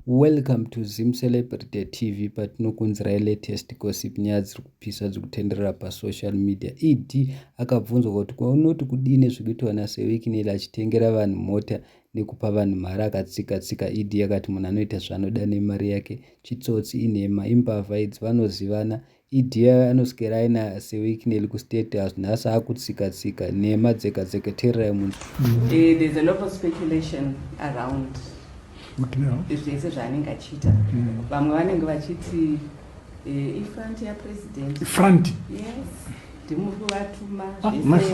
Welcome to ZimCelebrity TV patinokunzirai latest gossip nyaya dziri kupisa dziri kutenderera pasocial media. ED akabvunzwa kuti kwaunoti kudii nezvekuitwa naSewekineli achitengera vanhu mota nekupa vanhu mari akatsika tsika. ED akati munhu anoita zvaanoda nemari yake chitsotsi inhema imbavha idzi vanozivana Idea anoswera aina sewicknel kustate house nhasi akutsika tsika nhema dzega dzega tererai munzwa eh, there's a lot of speculation around zvese zvaanenge achiita mm. vamwe vanenge vachiti eh, ifront yapresident front yes ndimuri kuvatuma ah, zvese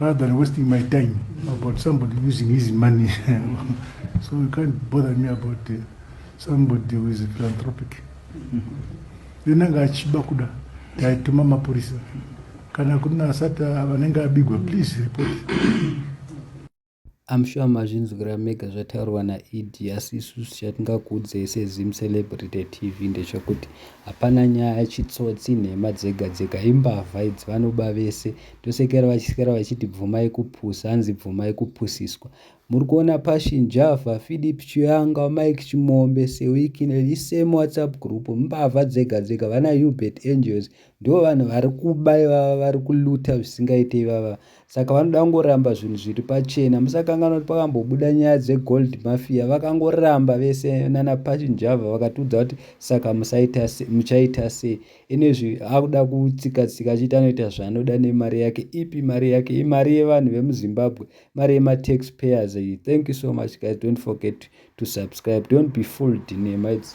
rather than wasting my time about somebody using his money so you can't bother me about uh, somebody who is philanthropic then anga achiba kuda taituma mapurisa kana kuna asati vanenge abigwa please report I'm sure mazvinzwira mega zvataurwa naED asi isusu chatingakuudzei seZim Celebrity TV ndechokuti hapana nyaya chitsotsi nhema dzega dzega imbavha idzi vanoba vese tosekera vachisikera vachiti bvumai kupusa hanzi bvumai kupusiswa muri kuona Passion Java Philip Chiyanga Mike Chimombe Sewikine isame WhatsApp group mbavha dzega dzega vana Hubert Angels ndivo vanhu vari kuba ivava vari kuluta zvisingaite ivava Saka vanoda kungoramba zvinhu zviri pachena. Musakanganwa kuti pakambobuda nyaya dzeGold Mafia vakangoramba vese nana Pachinjava vakatiudza kuti saka musaita se, muchaita sei. Inezvi akuda kutsika tsika achiita anoita zvaanoda nemari yake. Ipi mari yake? Imari yevanhu vemuZimbabwe, mari yematax payers iyi. Thank you so much guys. Don't forget to subscribe. Don't be fooled nema idzi.